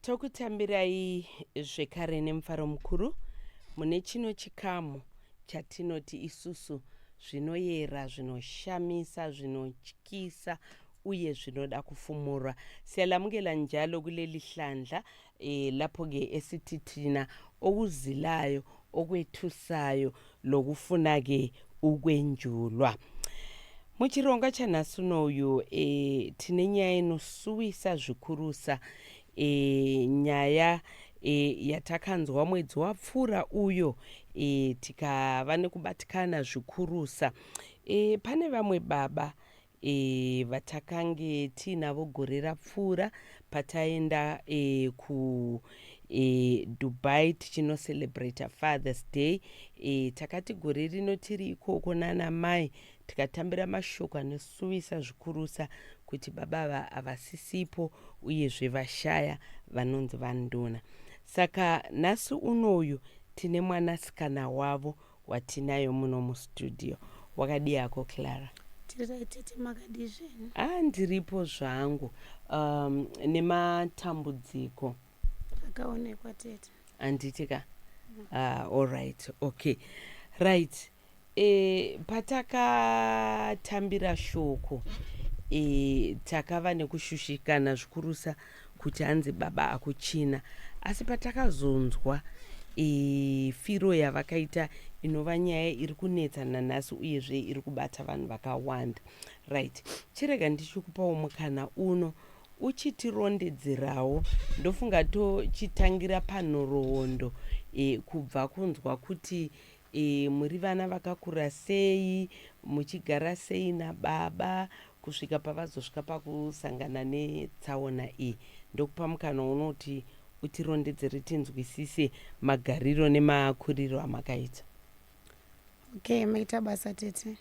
Tokutambirai zvekare nemufaro mukuru mune chino chikamu chatinoti isusu zvinoyera zvinoshamisa zvinotyisa uye zvinoda kufumurwa siyalamukela njalo kuleli hlandla e, lapho-ke esithi thina okuzilayo okwethusayo lokufuna-ke ukwenjulwa. Muchirongwa chanhasi uno uyu e, tine nyaya inosuwisa zvikurusa e, nyaya e, yatakanzwa mwedzi wapfuura uyo e, tikava nekubatikana zvikurusa e, pane vamwe baba e, vatakange tiinavo gore rapfuura pataenda e, ku e, dubai tichinoselebrata fathers day e, takati gore rino tiri ikoko nana mai tikatambira mashoko anosuwisa zvikurusa kuti baba ava havasisipo uyezve vashaya vanonzi vanduna saka nhasi unoyu tine mwanasikana wavo watinayo muno mustudio wakadii hako clara tiriretete makadii zvenyu ah ndiripo zvangu um, nematambudziko akaonekwa tete handiti ka mm. ah, all right okay right e, patakatambira shoko e, takava nekushushikana zvikurusa kuti hanzi baba akuchina asi patakazonzwa e, firo yavakaita inova nyaya iri kunetsa nanhasi uyezve iri kubata vanhu vakawanda right chirega ndichikupawo mukana uno uchitirondedzerawo ndofunga tochitangira panhoroondo e, kubva kunzwa kuti E, muri vana vakakura sei muchigara sei nababa kusvika pavazosvika pakusangana netsaona iyi ndokupa mukana unoti utirondedzere tinzwisise magariro nemakuriro amakaita okay maita basa tete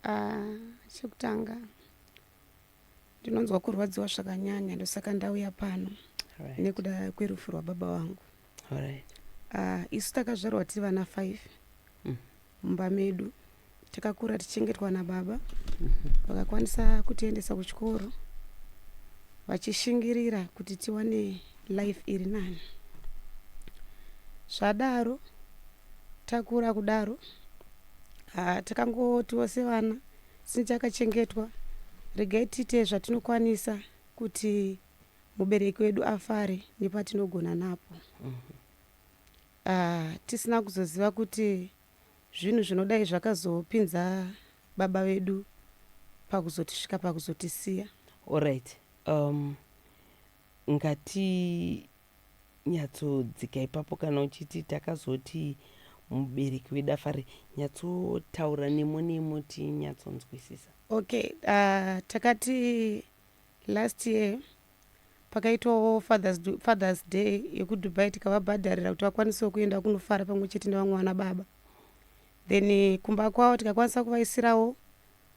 uh, chekutanga ndinonzwa kurwadziwa zvakanyanya ndosaka ndauya pano right. nekuda kwerufu rwababa wangu Alright. Ah, isu takazvarwa tiri vana five mm. mumba medu takakura tichengetwa nababa mm-hmm. vakakwanisa mm -hmm. kutiendesa kuchikoro vachishingirira kuti tiwane life iri nani zvadaro takura kudaro ah, takangotiwo sevana since akachengetwa regai tiite zvatinokwanisa kuti mubereki wedu afare nepatinogona napo uh, tisina kuzoziva kuti zvinhu zvinodai zvakazopinza baba vedu pakuzotisvika pakuzotisiya orit um, ngati nyatsodzika ipapo kana uchiti takazoti mubereki wedu afare nyatsotaura nemo nemo tinyatsonzwisisa okay uh, takati Last year pakaitwawo fathers, fathers day yekudubai tikavabhadharira kuti vakwanisewo kuenda kunofara pamwe chete nevamwe vana baba then eh, kumba kwavo tikakwanisa kuvaisirawo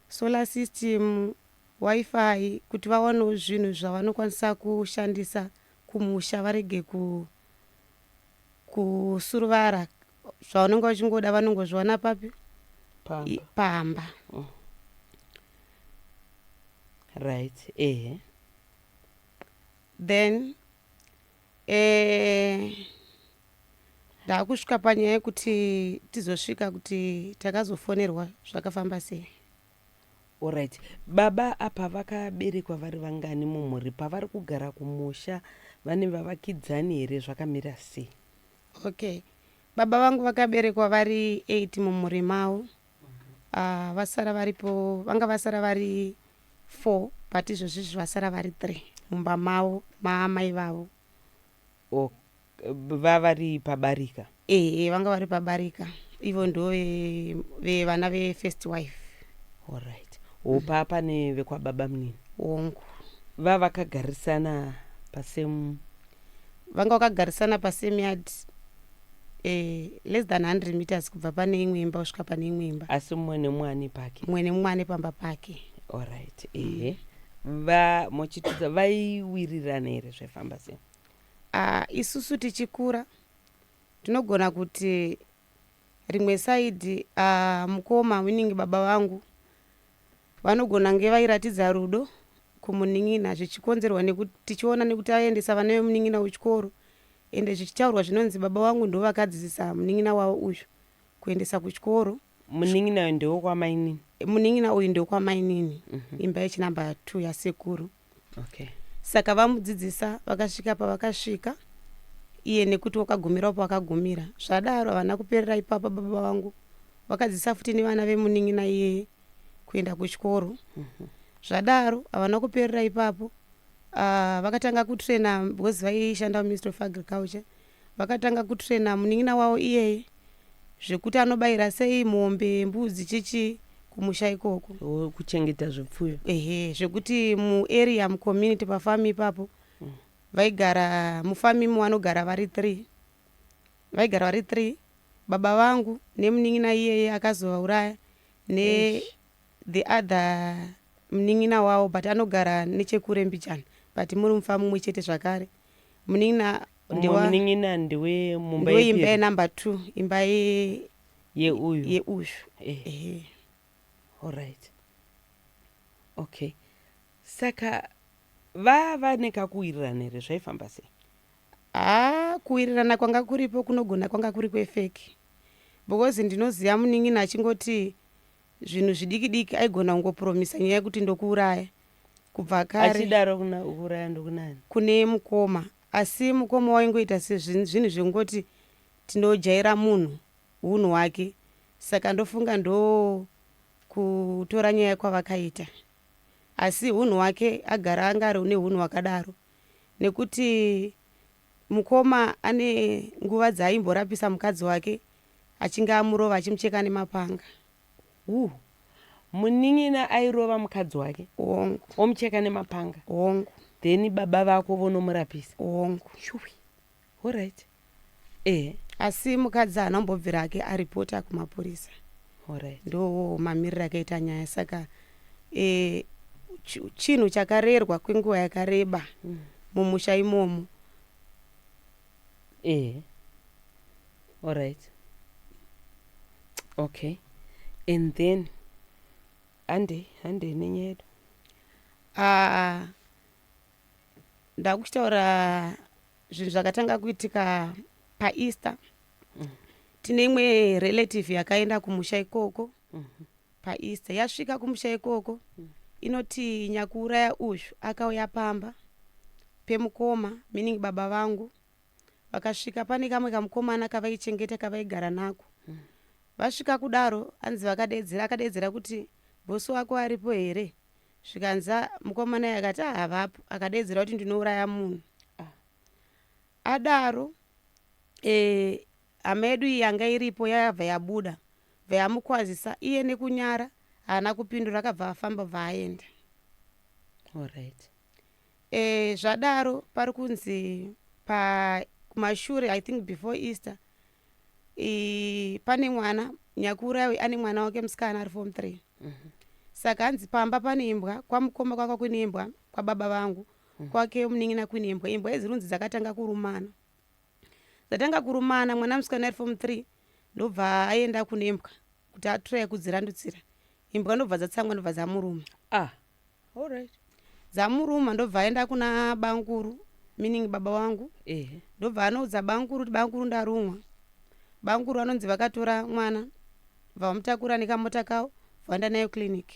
solar system wifi kuti vawanewo zvinhu zvavanokwanisa kushandisa kumusha varege ku kusuruvara zvaunenge uchingoda vanongozviona papi pamba, pamba. Oh. right ehe then eh, ndakusvika panyaya yekuti tizosvika kuti takazofonerwa zvakafamba sei Alright. Baba apa vakaberekwa vari vangani mumhuri pavari kugara kumusha vane vavakidzani here zvakamira sei? Okay. Baba vangu vakaberekwa vari 8 mumhuri mavo. Uh, vasara varipo vanga vasara vari 4 but izvozvi izvi vasara vari 3 mumba mavo maamai vavo. Ohk bva vari pabarika. Ehe vanga vari pabarika ivo ndove ve vana ve first wife. Alright ho pa pane vekwababa munini. Hongu. Bva vakagarisana pa same. Vanga vakagarisana pa same yard eh, less than 100 meters kubva pane imwe imba kusvika pane imwe imba. Asi mumwe nemumwe ane pake. Mumwe nemumwe ane pamba pake. Alright ehe. Bva mochitudza vaiwirirana here zvaifamba sei. Uh, isusu tichikura tinogona kuti rimwe saidi uh, mukoma meaning baba vangu vanogona nge vairatidza rudo kumunin'ina zvichikonzerwa nekuti tichiona nekuti aiendesa vana vemunin'ina kuchikoro ende zvichitaurwa zvinonzi baba vangu ndovakadzidzisa munin'ina wavo uyu kuendesa kuchikoro Munin'ina uyu ndewokwaMainini. Munin'ina uyu ndewokwaMainini. Mm -hmm. Imba yechinamba 2 yasekuru. Okay. Saka vamudzidzisa vakasvika pavakasvika iye nekuti wakagumirawo pawakagumira zvadaro havana kuperera ipapa baba vangu vakadzisa futi nevana vemunin'ina iyeye kuenda kuchikoro mhm. zvadaro havana kuperera ipapo ah, vakatanga kutraina because vaishanda muministry of agriculture Vakatanga kutrainer munin'ina wavo iyeye zvekuti anobayira sei mombe, mbudzi chichi kumusha ikoko. Oh, kuchengeta zvipfuyo. Ehe, zvekuti muarea mucommunity pafarm ipapo mm. vaigara mufarm imo vanogara vari three. Vaigara vari three baba vangu nemunin'ina iyeye akazovauraya ne Eish. the other munin'ina wavo but anogara nechekure mbichana but muri mufa mumwe chete zvakare munin'ina ndiwa munin'ina ndiwe mumba ndiwe imba yenumber two imba ye yeuyu yeuyu eh. eh. alright okay saka vava nekakuwirirana here zvaifamba sei haa ah, kuwirirana kwanga kuripo kunogona kwanga kuri kwefeki because ndinoziva munin'ina achingoti zvinhu zvidiki diki aigona kungopromisa nyaya yekuti ndokuuraya kubva kare achidaro kuuraya ndokunani kune mukoma asi mukoma waingoita sezvinhu zvekungoti tinojaira munhu unhu wake saka ndofunga ndo kutora nyaya kwavakaita asi unhu wake agara anga ari une unhu wakadaro nekuti mukoma ane nguva dzaimborapisa mukadzi wake achinge amurova achimucheka nemapanga Huh. Munin'ina airova mukadzi wake Hongu. omucheka nemapanga Hongu. then baba vako vonomurapisa Hongu. Shuwi. Alright. Ehe. Asi mukadzi haana kumbobvira hake aripota kumapurisa. Alright. Ndowo mamiriro akaita nyaya saka eh, chi- chinhu chakarerwa kwenguva yakareba mumusha imomo ehe alright okay and then handei handei nenyaya yedu Ah, ndakuchitaura zvinhu zvakatanga kuitika paeaster tine imwe relative yakaenda kumusha ikoko mhm. paeaster yasvika kumusha ikoko mhm. inoti nyakuuraya uyu akauya pamba pemukoma meaning baba vangu vakasvika pane kamwe kamukomana kavaichengeta kavaigara nako mhm. vasvika kudaro anzi vakadeedzera akadeedzera kuti bosi wako aripo here zvikanza mukomana ye akati ahavapo ah, akadeedzera kuti ndinouraya munhu ah. adaro e, Hama yedu iyi yanga iripo yayabva yabuda bva yamukwazisa iye nekunyara haana kupindura akabva afamba bva aenda. Alright. E, zvadaro pari kunzi pa kumashure I think before Easter e, pane mwana nyakuurawi ane mwana wake musikana ari form 3 mm -hmm. saka hanzi pamba pane imbwa kwamukoma kwaka kune imbwa kwababa vangu mm -hmm. kwake munin'ina kune imbwa imbwa idzi runzi dzakatanga kurumana dzatanga kurumana mwana musikana ari form three ndobva aenda kune mbwa kuti atraya kudzirandutsira imbwa ndobva dzatsangwa ndobva dzamuruma ah alright dzamuruma ndobva aenda kuna bankuru meaning baba wangu ehe ndobva anoudza bankuru kuti bankuru ndarumwa bankuru vanonzi vakatora mwana Vamutakura nekamota kawo vaenda nayo clinic.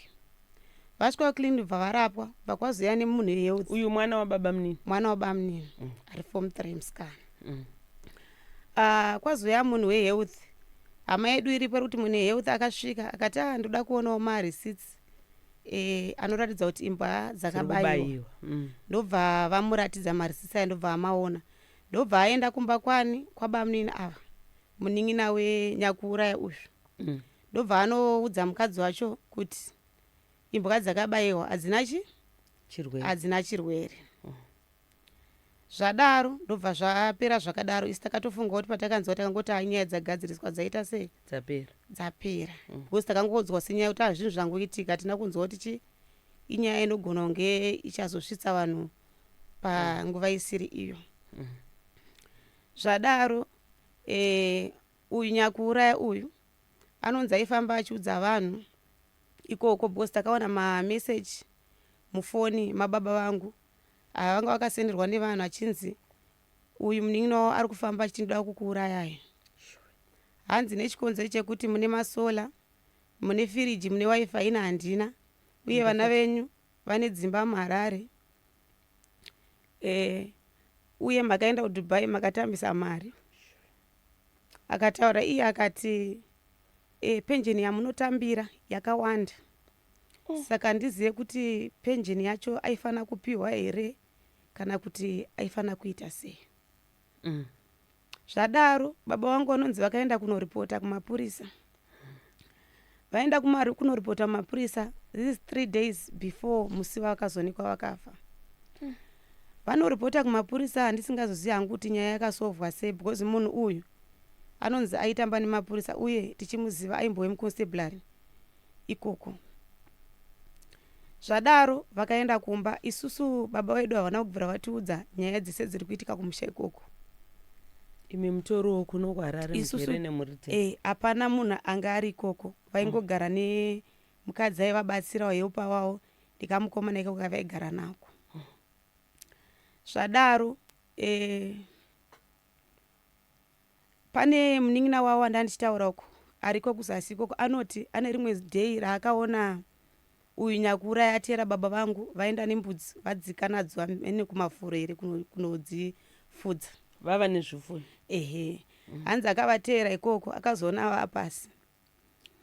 Vasvika kuclinic bva varapwa bva kwazoya nemunhu yehealth. Uyu mwana wababamnini. Mwana wabamnini mm. ari form 3 musikana. Mm. Uh, kwazoya munhu wehealth hama yedu iripo iri kuti munhu health akasvika akati a ah, ndoda kuonawo marecits e, eh, anoratidza kuti imbwa dzakabaiwa mm. ndobva vamuratidza marecits aya ndobva amaona ndobva aenda kumba kwani kwabamunini ava munin'ina wenyakuuraya uyu mm. ndobva anoudza mukadzi wacho kuti imbwa dzakabayiwa hadzina chi chirwere hadzina chirwere oh. zvadaro ndobva zvapera zvakadaro isi takatofunga kuti patakanzwa takangoti nyaya dzagadziriswa dzaita sei dzapera dzapera mm. because takangodzwa senyaya kuti azvinhu zvangoitika hatina kunzwa kuti chi inyaya inogona kunge ichazosvitsa vanhu panguva isiri iyo mm. zvadaro Eh, uyu nyakuuraya uyu anonzi aifamba achiudza vanhu ikoko because takawana mameseji mufoni mababa vangu ava vanga vakasenderwa nevanhu achinzi uyu munin'ina wavo ari kufamba achiti ndoda kukuurayai hanzi nechikonzero chekuti mune masola mune firiji mune wifi ina handina uye vana venyu vane dzimba muharare eh, uye makaenda kudubai makatambisa mari akataura iye akati eh, penjeni yamunotambira yakawanda mm. saka ndizive kuti penjeni yacho aifanira kupiwa here kana kuti aifanira kuita sei mm. Zvadaro baba wangu vanonzi vakaenda kunoripota kumapurisa. Vaenda kumari kunoripota kumapurisa this is three days before musi vakazonikwa vakafa. Vanoripota kumapurisa handisingazoziva hangu kuti nyaya yakasovwa sei because munhu uyu anonzi aitamba nemapurisa uye tichimuziva aimbove muconstabulary. ikoko. Zvadaro vakaenda kumba, isusu baba vedu havana kubvira vatiudza nyaya dzese dziri kuitika kumusha ikoko. imi mutoriwo kuno kuharare Isusu- mugere nemhuri dzenyu Eh, hapana munhu anga ari ikoko, vaingogara nemukadzi aivabatsira wayepa wavo ndikamukomana ikoko kavaigara nako. Zvadaro eh, Pane munin'ina wavo wandandichitaura uko ariko kuzasi ikoko anoti ane rimwe day raakaona uyu nyakuuraya atiyera baba vangu vaenda nembudzi vadzika nadzo amene kumafuro here kunodzifudza vava nezvifuyo ehe mm. hanzi akavateyera ikoko akazoona vapasi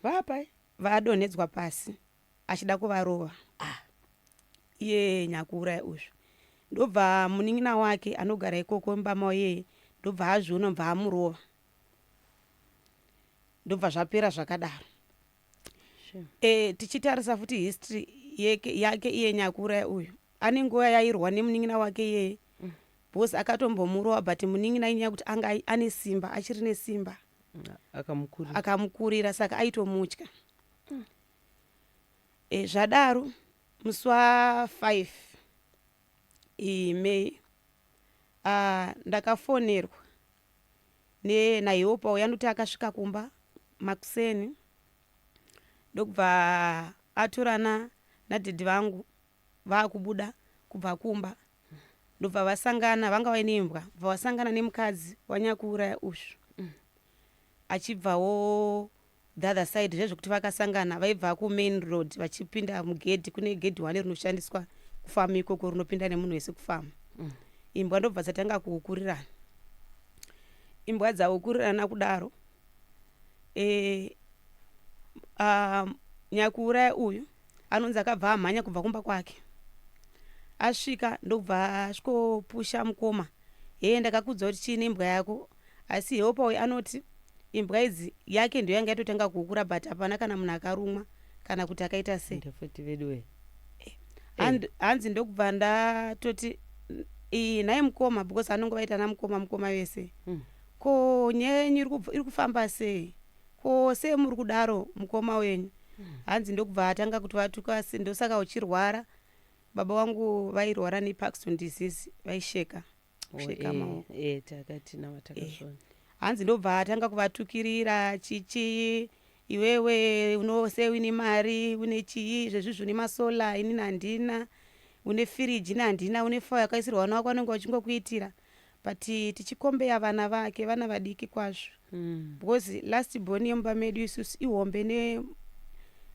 vapai vadonhedzwa pasi achida kuvarova ah iye nyakuuraya uzvi ndobva munin'ina wake anogara ikoko mbama yeye ndobva azviona bva amurova ndobva zvapera zvakadaro sure. e, tichitarisa futi history yake, yake iye nyakuuraya uyu ane nguva yairwa nemunin'ina wake yeye mm. bcause akatombomurova but munin'ina inyaya kuti anga ane simba achiri nesimba akamukurira saka aitomutya mm. E, zvadaro musi wa 5 e, May a, ndakafonerwa ne naHeopa uya anoti akasvika kumba makuseni ndokubva atorana nadaddy vangu vakubuda kubva kumba ndobva vasangana vanga vaine mbwa bva vasangana nemukadzi wanyakuuraya ushu achibvawo the other side zvezvekuti vakasangana vaibva kumain road vachipinda mugedhi kune gedhi one rinoshandiswa kufamu ikoko rinopinda nemunhu wese kufamu mm. imbwa ndobva dzatanga kuukurirana imbwa dzaukurirana kudaro e, a, nyakuuraya uyu anonzi akabva amhanya kubva kumba kwake asvika ndokubva asvikopusha mukoma hee ndakakudza kuti chii nembwa yako asi heopa uyu anoti imbwa idzi yake ndiyo yanga yatotanga kukura but hapana kana munhu akarumwa kana kuti akaita sei Ende futi veduwe. And- hanzi ndokubva ndatoti iyi nhai mukoma because anonge vaitana mukoma mukoma vese Mm. Ko nyaya yenyu iri kufamba sei? Ko semuri kudaro mukoma wenyu? Hanzi ndokubva atanga kuti vatuka asi ndosaka uchirwara. Baba wangu vairwara neParkinson disease vaisheka. Kusheka oh, eh, maoko. Eh, eh, takati na vatakashona. Eh. Hanzi ndobva atanga kuvatukirira chichi iwewe unose une mari une chii zvezvizvi une masola inini handina une firiji ini handina une fo yakaisirwa vana wako anenge wachingokuitira but tichikombeya vana vake vana vadiki kwazvo mm. because last born yemumba medu isusu ihombe ne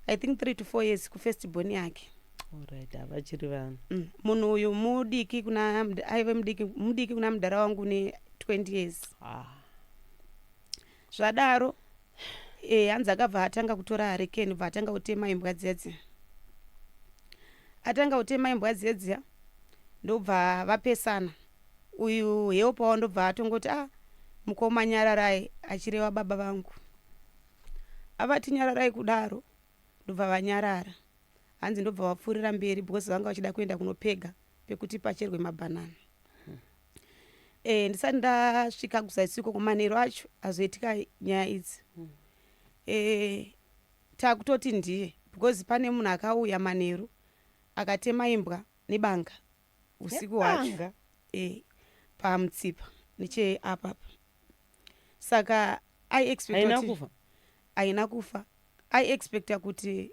i think three to four years kufirst born yake right havachiri vana mm. munhu uyu mudiki kuna aive mudiki mudiki kuna mudhara wangu ne 20 years ah. Zvadaro eh, hanzi akabva atanga kutora harekeni bva atanga kutema imbwa dzedzi atanga kutema imbwa dzedzi ndobva vapesana uyu heo pawo ndobva atongoti ah mukoma nyararai achireva baba vangu avati nyararai kudaro ndobva vanyarara hanzi ndobva vapfuurira mberi because vanga vachida kuenda kunopega pekuti pacherwe mabhanana eh, ndisati ndasvika kuzaisiko kumanheru acho azoitika nyaya idzi hmm. eh, takutoti ndiye because pane munhu akauya manheru akatema imbwa nebanga usiku hwacho eh, pamutsipa neche apapa saka aina kufa aina kufa aiexpecta kuti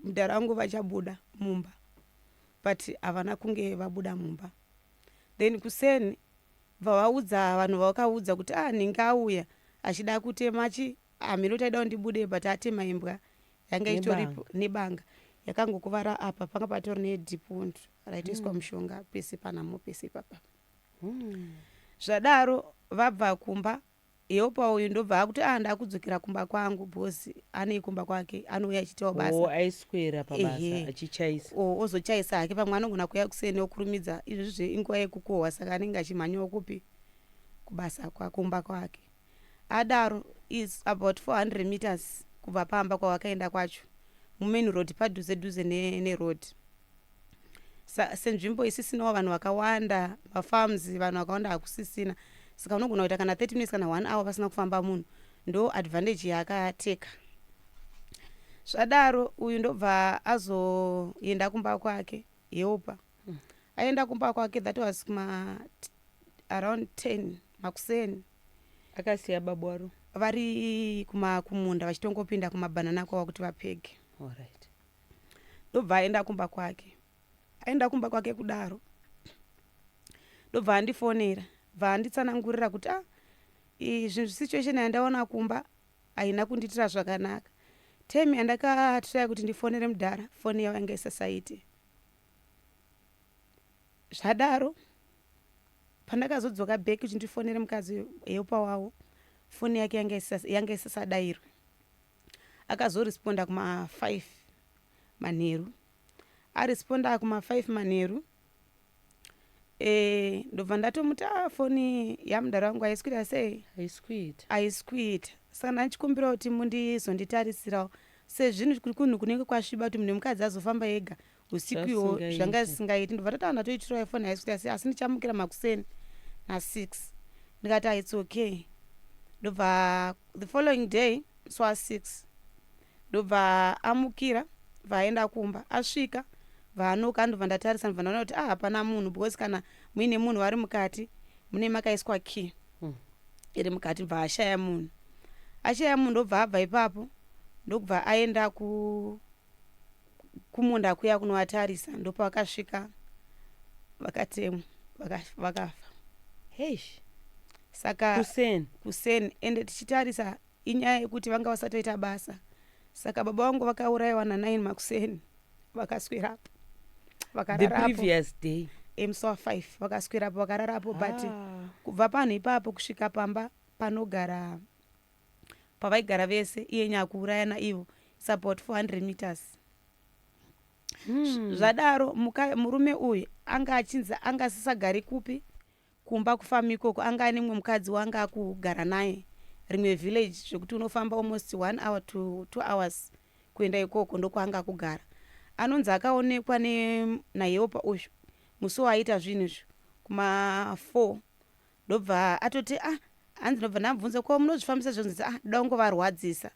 mdhara wangu vachabuda mumba but havana kunge vabuda mumba then kuseni bva vaudza vanhu vavakaudza kuti ah ninge auya achida kutema chi hameno taida kundibude but atema imbwa yanga itoripo nebanga yakangokuvara apa panga patori nedipund raitoiswa mm. mushonga pese panamo pese ipapa mm. zvadaro vabva kumba Eopa uyu ndobva akuti ah ndakudzokera kumba kwangu because anei kumba kwake anouya achiitawo basa oh, aiswera pabasa achichaisa oh, ozochaisa hake pamwe anogona kuya kuseni okurumidza izvozvo inguva yekukohwa saka anenge achimhanyawo kupi kubasa kwakumba kwake adaro is about 400 meters kubva pamba kwawakaenda kwacho mumain road padhuze dhuze neroad ne Sa, senzvimbo isisinawo vanhu vakawanda mafarms vanhu vakawanda hakusisina saka unogona kuita kana 30 minutes kana 1 hour pasina kufamba munhu ndo advantage yaakateka zvadaro uyu ndobva azoenda kumba kwake helpa hmm. aenda kumba kwake that was kuma around 10 makuseni akasiya babu waro vari kuma kumunda vachitongopinda kumabhanana kwava kuti vapege Alright. ndobva aenda kumba kwake aenda kumba kwake kudaro ndobva andifonera bva anditsanangurira kuti a ah, izvi situation yandaona kumba haina kundiitira zvakanaka temi yandakatiraya kuti ndifonere mudhara foni yavo yanga isasaite zvadaro pandakazodzoka back kuti ndifonere mukadzi heupa wavo foni yake yanga isasadairwe akazoresponda kuma 5 manheru aresponda kuma 5 manheru e, ndobva ndatomuti a ah, foni yamudhara wangu haisi kuita sei haisi kuita saka ndandichikumbira kuti mundizonditarisirawo sezvinhu kuri kunhu kunenge kwasviba kuti munhu wemukadzi azofamba ega usiku iwo zvanga zvisingaiti ndobva tataona toitirwa ifoni haisvika asi asi ndichamukira makuseni nasix ndikati ah, its okay ndobva the following day swa six ndobva amukira bva aenda kumba asvika vaanoka ndobva ndatarisa ndobva ndaona kuti ah hapana munhu because kana muine munhu vari mukati mune makaiswa key hmm. iri mukati bva ashaya munhu ashaya munhu ndobva abva ipapo ndokubva aenda ku kumunda kuya kunovatarisa ndopavakasvika vakatemwa vakafa heish saka kuseni kuseni ende tichitarisa inyaya yekuti vanga vasatoita basa saka baba vangu vakaurayiwa nanaini makuseni vakaswerapo vakararapoday emsoa five vakaswerapo vakararapo but ah. kubva panhu ipapo kusvika pamba panogara pavaigara vese iye nyakuuraya naivo its about 400 meters hmm. zvadaro murume uyu anga achinzi anga asisagari kupi kumba kufamu ikoko anga ane mumwe mukadzi waanga akugara naye rimwe village zvekuti unofamba almost one hour to two hours kuenda ikoko ndokwaanga akugara anonzi akaonekwa nayeopa uyu musi waaiita zvinhu izvo kuma4 Ndobva atoti ah hanzi ndobva ndamubvunza ko munozvifambisa zvonzi ndzi ah ndoda kungovarwadzisa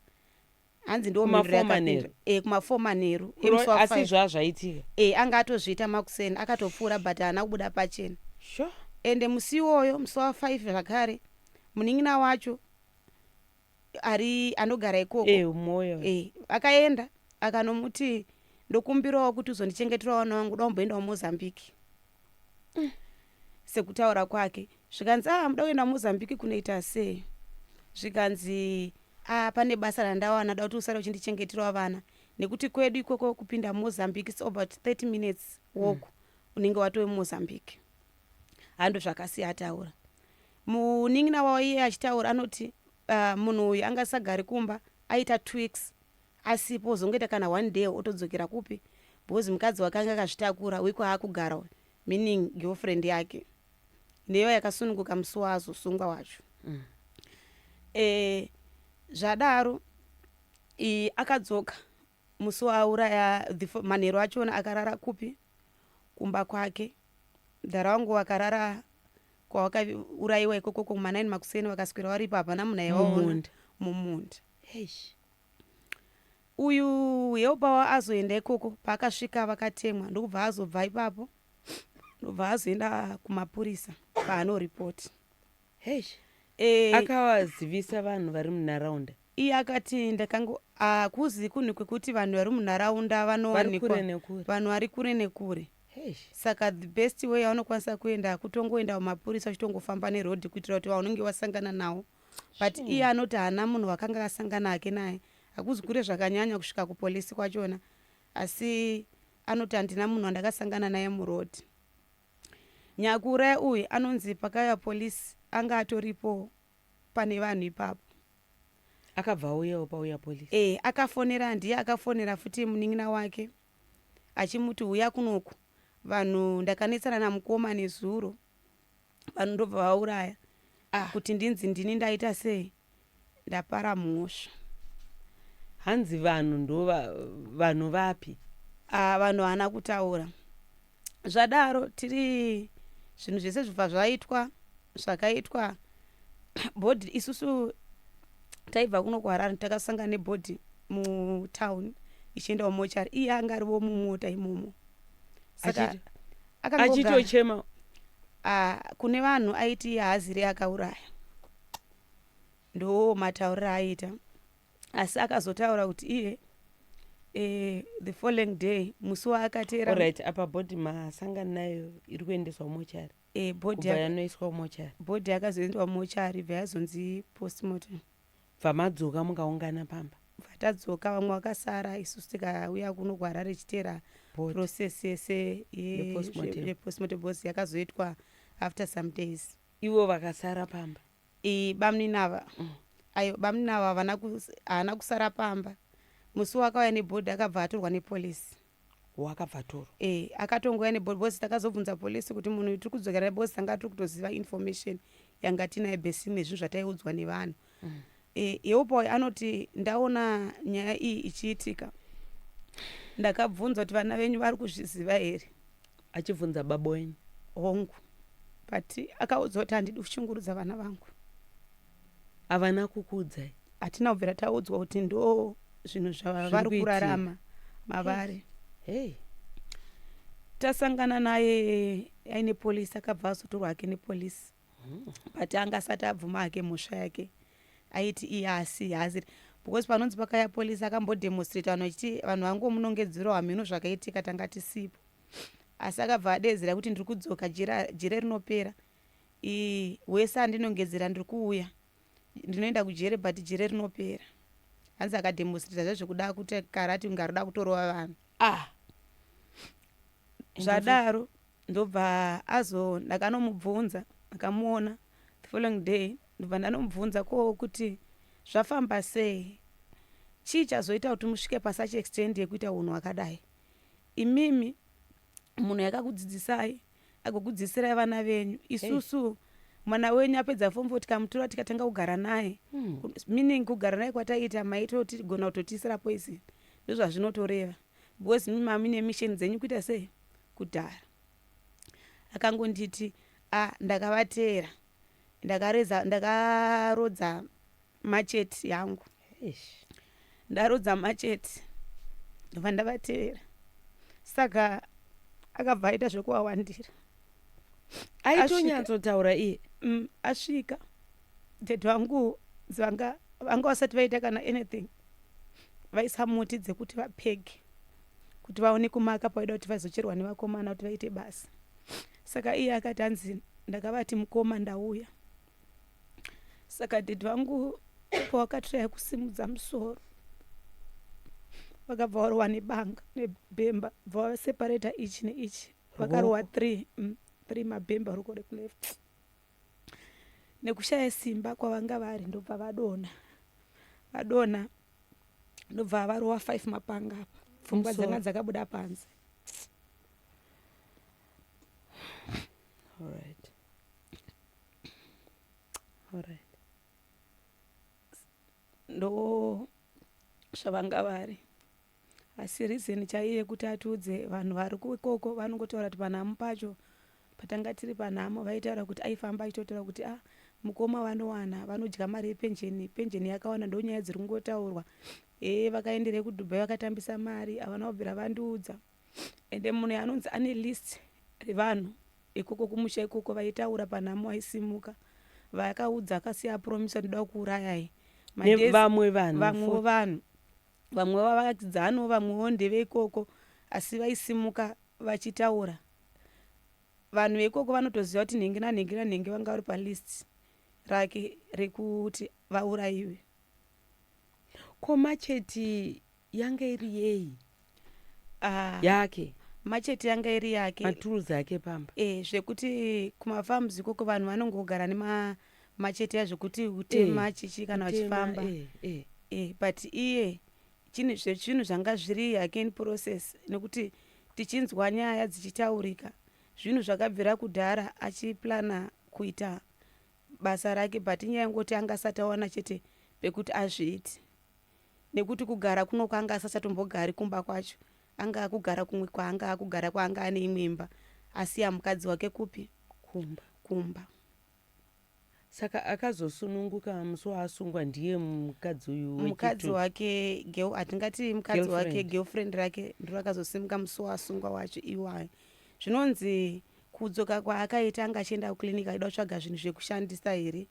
hanzi ndiwo mhinduro Kumafour yakapindwa manheru. e kumafour manheru Kuro- emusi wa asi five. zvaa zvaitika e anga atozviita makuseni akatopfuura but haana kubuda pachena sure ende musi iwoyo musi wa five zvakare munin'ina wacho ari anogara ikoko eh, moyo eh, akaenda akanomuti ndokumbirawo kuti uzondichengetera vana vangu da umboendawo mozambique mm. sekutaura kwake zvikanzi ah muda kuenda mozambique kunoita sei zvikanzi ah pane basa randawana da kuti usare uchindichengeterawo vana nekuti kwedu ikoko kupinda mozambique its about 30 minutes walk mm. unenge watove mozambique hando zvakasiya ataura Munin'ina wavo iye achitaura anoti, Uh munhu uyu anga asagari kumba aita two weeks asipo ozongoita kana one day otodzokera kupi because mukadzi wake anga akazvitakura wiko haakugara uyu meaning girlfriend yake neyo yakasununguka musi waazosungwa wacho mm. e, zvadaro akadzoka musi waauraya Dhifo manheru achona akarara kupi? Kumba kwake. Mdhara wangu wakarara kwawakauraiwa ikoko kuma 9 makuseni wakaswera waripo hapana munhu aiwaona mumunda. Eish. Uyu helper wa azoenda ikoko paakasvika vakatemwa ndokubva azobva ipapo ndobva azoenda kumapurisa paano report. Heish. Eh, akawazivisa vanhu vari munharaunda iye akati ndakango hakuzi kunhu kwekuti vanhu vari munharaunda vari vanowanikwa kure nekure vanhu vari kure nekure Heish. saka the best way yaunokwanisa kuenda kutongoenda kumapurisa uchitongofamba neroad kuitira kuti vaunenge wasangana nawo but Shame. iye anoti haana munhu wakanga asangana hake naye hakuzi kure zvakanyanya kusvika kupolisi kwachona asi anoti handina munhu wandakasangana naye muroad Nyakure uyu anonzi pakauya police anga atoripo pane vanhu ipapo. Akabva auyawo pauya police? Eh akafonera ndiye akafonera futi munin'ina wake achimuti huya kunoku vanhu ndakanetsana namukoma nezuro vanhu ndobva vauraya ah. kuti ndinzi ndini ndaita sei. Ndapara mhosva. Hanzi vanhu ndo vanhu vapi. Aah vanhu haana kutaura zvadaro tiri zvinhu zvese zvibva zvaitwa zvakaitwa body isusu taibva kuno kuharare takasanga nebody mutown ichienda kumochari iye anga arivo mumota imomo saka achitochema ah, kune vanhu aiti haaziri akauraya ndoo matauriro aaita asi akazotaura kuti iye eh, the following day musi waakateera Alright, apa body masangana nayo iri kuendeswa kumochari. eh, body Kubva yaka- yanoiswa kumochari. body yakazoendwa mumochari ibva yazonzi postmortem Bva madzoka mukaungana pamba. bva tadzoka vamwe vakasara isusu tikauya kuno kuharare ichiteera Body. process yese ye- Yepostmortem. yepostmortem because yakazoitwa after some days ivo vakasara pamba iyi bamnina ava mm. ayo bamnina ava havana haana kusara pamba musi wakauya nebhodhi akabva atorwa nepolisi wakabva atorwa e akatongouya nebhodhi bhosi takazobvunza polisi kuti munhu tiri kudzokera nebhosi tanga tiri kutoziva information yanga tinaye besini nezvinhu zvataiudzwa nevanhu mm. e, yeupoyi anoti ndaona nyaya iyi ichiitika ndakabvunza kuti vana venyu vari kuzviziva here achibvunza baba wenyu hongu but akaudza kuti handidi kushungurudza vana vangu havana kukuudzai hatina kubvira taudzwa kuti ndo zvinhu zvavari kurarama mavari hey. tasangana naye aine polisi akabva azotorwa hake nepolisi but anga asati abvuma hake mhosva yake aiti iye asi haasiri because panonzi pakaya polisi akambodemonstrate vanhu vachiti vanhu vangomunongedzerwa hamheno zvakaitika tanga tisipo asi akabva adeedzera kuti ndiri kudzoka jira, jira rinopera ii wese andinongedzera ndiri kuuya ndinoenda kujere but jere rinopera hanzi akademonstrata zvezvekuda kuti karati kunge arikuda kutorova vanhu ah zvadaro ndobva azo ndakanomubvunza ndakamuona the following day ndobva ndanomubvunza ko kuti zvafamba sei chii chazoita kuti musvike pasuch extend yekuita unhu hwakadai imimi munhu yakakudzidzisai agokudzidzisirai vana venyu isusu hey. mwana wenyu apedza form four tikamutora tikatanga kugara naye hmm. meaning kugara naye kwataiita maitogona kutotiisira poison ndozvazvinotoreva because mi mamine mission dzenyu kuita sei kudhara akangonditi a ah, ndakavateera ndakareza ndakarodza macheti yangu ndarodza macheti ndobva ndavatevera saka akabva aita zvekuwawandira aitonyatsotaura iye mm, asvika dad vangu vanga vanga vasati vaita kana anything vaisa muti dzekuti vapege kuti vaone kumaka paida kuti vazocherwa nevakomana kuti vaite basa saka iye akati hanzi ndakavati mukoma ndauya saka dedi vangu pawakatraya kusimudza musoro vakabva varowa nebanga nebhemba bva vaseparata ichi neichi vakarowa three mm, three mabhemba ruko rekuleft nekushaya simba kwavanga vari ndobva vadona vadona ndobva varowa five mapanga apa pfungwa dzanga dzakabuda panze All right. All right. ndo zvavanga vari asi reason chaiye yekuti atiudze vanhu vari kuikoko vanongotaura kuti panhamu pacho patanga tiri panhamo vaitaura kuti aifamba achitotaura kuti a ah, mukoma vanowana vanodya mari yepenjeni penjeni yakawanda ndo nyaya dziri kungotaurwa ee vakaenderei kudubai vakatambisa mari havana kubvira vandiudza ende munhu yanonzi ane list revanhu ikoko kumusha ikoko vaitaura panhamo aisimuka vayakaudza akasiya apromisa ndoda kuurayai vamwe vanhu vamwewo vanhu vamwe vavakidzano vamwewo ndeve ikoko asi vaisimuka vachitaura vanhu veikoko vanotoziva kuti nhingi nanhingi nanhingi vanga vari palist rake rekuti vaurayiwe komacheti yanga iri yei Ah, yake machete yanga iri yake maturuzi ake pamba eh, zvekuti kumafarms ikoko vanhu vanongogara nemachete ya zvekuti kutema Eh, chichi kana Kutema, vachifamba eh, eh. eh, but iye chini- zve- zvinhu zvanga zviri yake in process nekuti tichinzwa nyaya dzichitaurika zvinhu zvakabvira kudhara achiplana kuita basa rake but inyaya yekungoti anga asati awana chete pekuti azviiti nekuti kugara kuno kwaanga asachatombogari kumba kwacho anga akugara kumwe kwaanga akugara kwaanga ane imwe imba asiya mukadzi wake kupi kumba kumba. Saka akazosununguka musi waasungwa ndiye mukadzi uyu wechitu. Mukadzi wake girl hatingati mukadzi wake girlfriend rake ndiro akazosimuka musi waasungwa wacho iwayo. Zvinonzi kudzoka kwaakaita anga achienda kuclinic aida kutsvaga zvinhu zvekushandisa here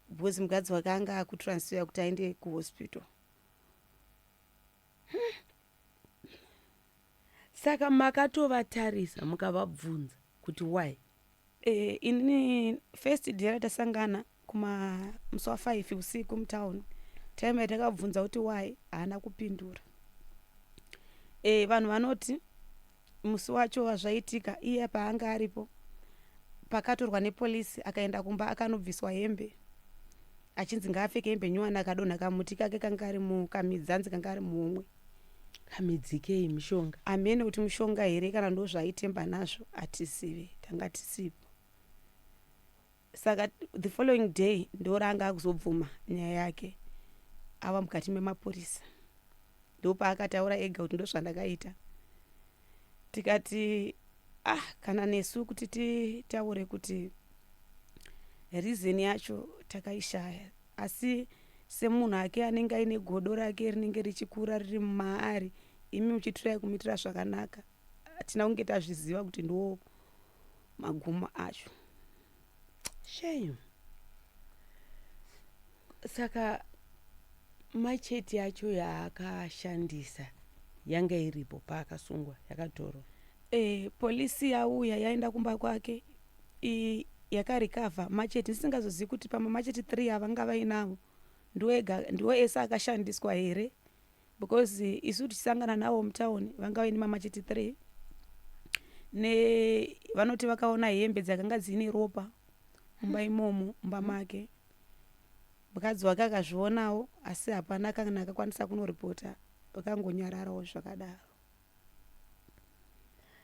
because mukadzi wake anga akutransfera kuti aende kuhospital hmm. saka makatovatarisa mukavabvunza kuti why eh, inini first day ratasangana kuma musi wafive usiku mutown time yatakabvunza kuti why haana kupindura eh, vanhu vanoti Musi wacho wazvaitika iye paanga aripo pakatorwa nepolice akaenda kumba akanobviswa hembe achinzi ngaapfeke hembe nyowani akadonha kamuti kake kanga kari mukamidzi anzi kanga ari muhomwe kamidzikei mishonga amene kuti mushonga here kana ndozvaaitemba nazvo hatizive tanga tisipo saka the following day ndoraanga akuzobvuma nyaya yake ava mukati memapurisa ndopaakataura ega kuti ndozvandakaita tikati ah kana nesu kuti titaure kuti reason yacho takaishaya asi semunhu ake anenge aine godo rake rinenge richikura riri maari imi muchitirai kumitira zvakanaka hatina kunge tazviziva kuti ndiwo magumo acho shame saka macheti yacho yaakashandisa yanga iripo paakasungwa yakatorwa e, polisi yauya yaenda kumba kwake yakarikavha macheti ndisingazozivi kuti pamwe macheti three avanga vainavo ndiwo ese akashandiswa here because eh, isu tichisangana navo mutown vanga vaine mamachiti three ne vanoti vakaona hembe dzakanga dziine ropa mumba imomo mumba make mukadzi wake akazvionawo asi hapana kana akakwanisa kunoripota vakangonyararawo zvakadaro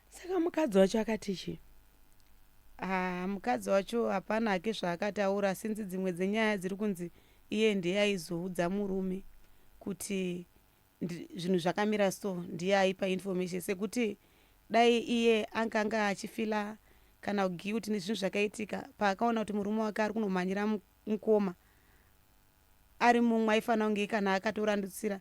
saka mukadzi wacho akati chii ah, mukadzi wacho hapana hake zvaakataura sinzi dzimwe dzenyaya dziri kunzi iye ndiye aizoudza murume kuti zvinhu zvakamira so ndiye aipa information sekuti dai iye anganga achifila kana guilt nezvinhu zvakaitika paakaona kuti murume wake ari kunomhanyira mukoma ari mumwe aifanira kunge kana akatorandutsira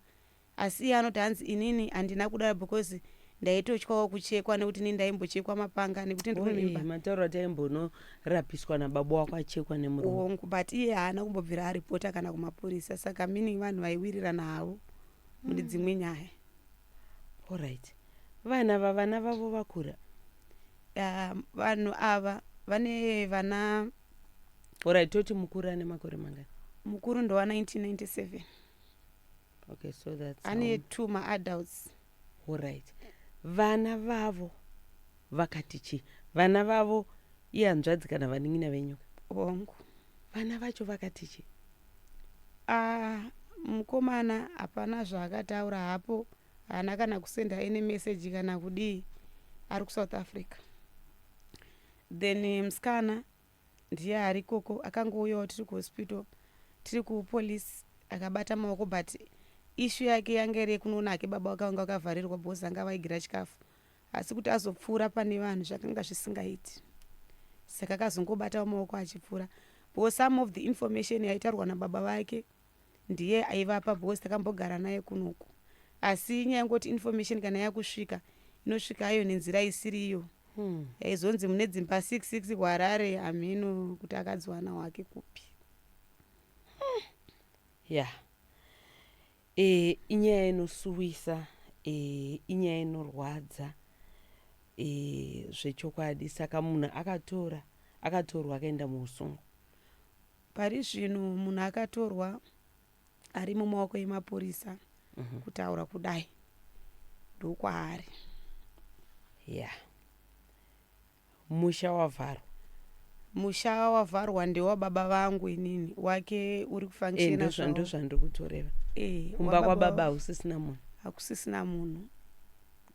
Asi iye anoti hanzi inini handina kudaro because ndaitotyawo kuchekwa nekuti ini ndaimbochekwa mapanga nekuti ndine mimba. Matauro ati aimbonorapiswa nababa wako achekwa nemurume. Hongu but iye haana kumbobvira aripota kana kumapurisa saka meaning vanhu vaiwirirana havo mune dzimwe nyaya. Alright. Vana ava vana vavo vakura. Ah, vanhu ava vane vana Alright toti mukuru ane makore mangani? mukuru ndowa 1997. okay, so that's ane um, two maadults orit vana vavo vakati chii vana vavo ihanzvadzi kana vanin'ina venyu wangu vana vacho vakati chii ah, mukomana hapana zvaakataura hapo haana kana kusenda any message kana kudii ari kusouth africa then musikana ndiye ari ikoko akangouyawo tiri kuhospital tiri kupolice akabata maoko but issue yake yanga iri yekunoona hake baba wake vanga vakavharirwa because anga vaigira chikafu asi kuti azopfuura pane vanhu zvakanga zvisingaiti saka akazongobatawo maoko achipfuura because some of the information yaitaurwa nababa vake ndiye aivapa because takambogara naye kunoku asi nyaya yekungoti information kana yakusvika inosvika ayo nenzira isiri iyo hmm. yaizonzi mune dzimba 66 kuharare hamheno kuti akadziwana wake kupi hmm. ya eh, inyaya inosuwisa eh, inyaya inorwadza eh, zvechokwadi saka munhu akatora akatorwa akaenda muusungo Pari zvino munhu akatorwa ari mumaoko emapurisa mhm. kutaura kudai ndokwaari ya yeah. musha wavharwa musha wavharwa ndewababa vangu inini wake uri kufangshenazvando eh, zvandiri kutoreva eh, kumba kwababa hausisina munhu hakusisina munhu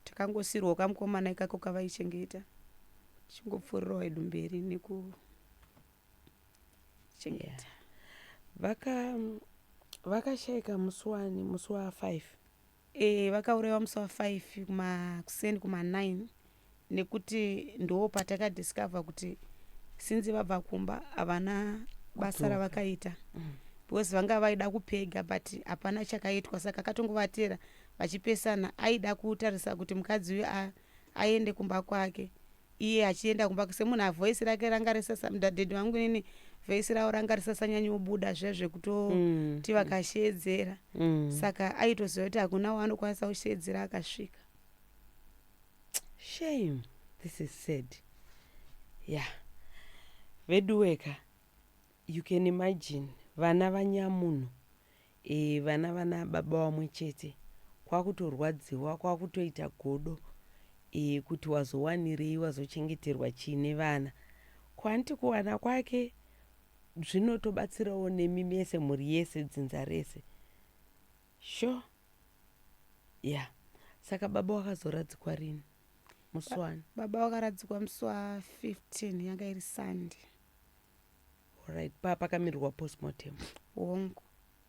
takangosirwa kamukomana ikako kavaichengeta tichingopfurirwa wedu mberi neku chengeta vaka vakashaika musi wani musi wa 5 e, vakauraiwa musi wa 5 kuma kuseni kuma 9 nekuti ndoo patakadiscover kuti sinzi vabva kumba havana basa ravakaita mm. because vanga vaida kupega but hapana chakaitwa saka akatongovatera vachipesana aida kutarisa kuti mukadzi uyu aende kumba kwake Iye achienda kumba kuse munhu avoice rake ranga risasa mdaded vangu nini voice ravo ranga risasanyanyobuda zviya zvekutoti mm. mm. vakasheedzera mm. saka aitoziva kuti hakuna waanokwanisa kusheedzera akasvika shame this is sad yeah veduweka you can imagine vana vanyamunhu E, vana vana baba vamwe chete kwakutorwadziwa kwakutoita godo e, kuti wazowanirei wazochengeterwa chii nevana ko hanti kuwana kwake zvinotobatsirawo nemi mese mhuri yese dzinza rese sho ya yeah. saka baba wakazoradzikwa rini muswani baba wakaradzikwa muswa 15 yanga iri sunday Alright, pa pakamirirwa postmortem. Hongu.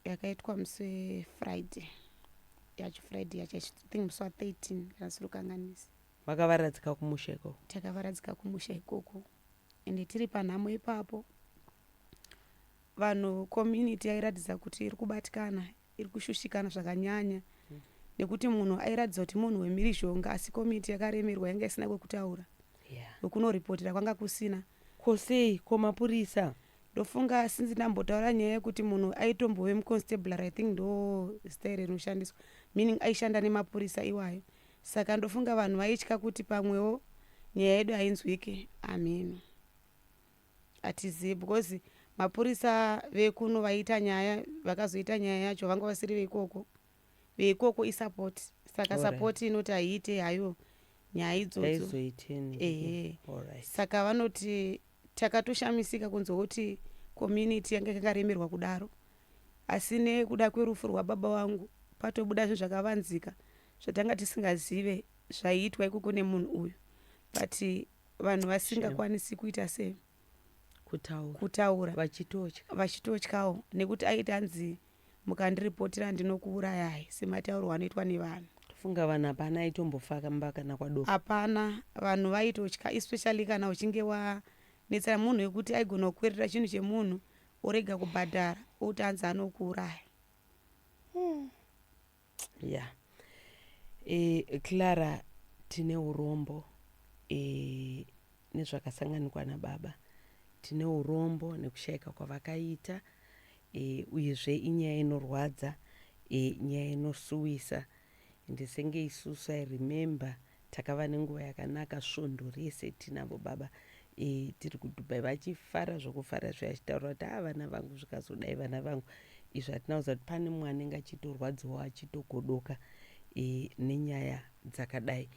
Yakaitwa musi we Friday. Yacho Friday yacho I should think musi wa 13 kana ndisiri kukanganisa. Makavaradzika kumusha ikoko. Takavaradzika kumusha ikoko ende tiri panhamo ipapo vanhu community yairatidza kuti iri kubatikana iri kushushikana zvakanyanya nekuti munhu airatidza kuti munhu wemhirizhonga asi komiti yakaremerwa yanga isina kwekutaura wekunoripotera kwanga kusina ko sei ko mapurisa ndofunga since ndambotaura nyaya yekuti munhu aitombove muconstabler i think ndo zita iri rinoshandiswa meaning aishanda nemapurisa iwayo saka ndofunga vanhu vaitya kuti pamwewo nyaya yedu hainzwike amheno Hatizivi because mapurisa vekuno vaita nyaya vakazoita nyaya yacho vanga vasiri veikoko veikoko isupport saka support inoti haiite hayo nyaya idzodzo ehe saka vanoti takatoshamisika kunzwa kuti community yanga yakaremerwa kudaro asi nekuda kwerufu rwababa vangu patobuda zvinhu zvakavanzika zvatanga tisingazive zvaiitwa ikoko nemunhu uyu but vanhu vasingakwanisi kuita sei kutaura kutaura vachitotya vachitotyawo nekuti aiti anzi mukandiripotira ndinokuurayai semataurwo anoitwa nevanhu tofunga vanhu hapana aitombofamba kana kwadoko hapana vanhu vaitotya especially kana uchinge wanetsera munhu wekuti aigona kukwerera chinhu chemunhu orega kubhadhara oti anzi anokuuraya hmm. ya yeah. e, clara tine urombo e, nezvakasanganikwa nababa tine urombo nekushayika kwavakaita e, uyezve inyaya inorwadza e, nyaya inosuwisa ndisenge isusu i remember Takava nenguva yakanaka svondo rese tinavo baba e, tiri kuDubai vachifara zvokufara zviya achitaura kuti haa vana vangu zvikazodai vana vangu izvi hatina kuziva kuti pane mumwe anenge achitorwadziwawo achitogodoka e, nenyaya dzakadai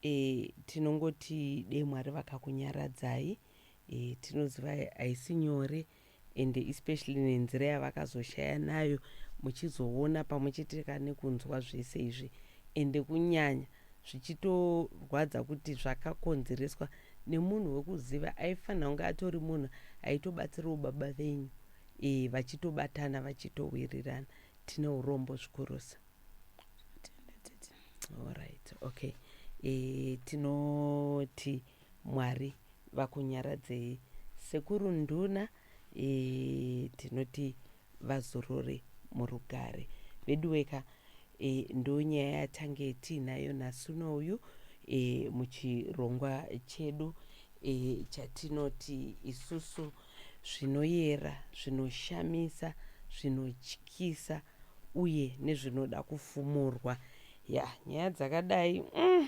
e, tinongoti dee Mwari vakakunyaradzai e, tinoziva haisi nyore and especially nenzira yavakazoshaya nayo muchizoona pamwe chete ka nekunzwa zvese izvi ende kunyanya zvichitorwadza kuti zvakakonzereswa nemunhu wekuziva aifanira kunge atori munhu aitobatsirawo baba venyu e, vachitobatana vachitowirirana tine urombo zvikurusa alright okay e, tinoti Mwari vakunyaradzei sekuru nduna eeh tinoti vazorore murugare veduweka eeh ndonyaya yatange tiinayo nhasi uno uyu eeh muchirongwa chedu eeh chatinoti isusu zvinoyera zvinoshamisa zvinotyisa uye nezvinoda kufumurwa yah nyaya dzakadai umm.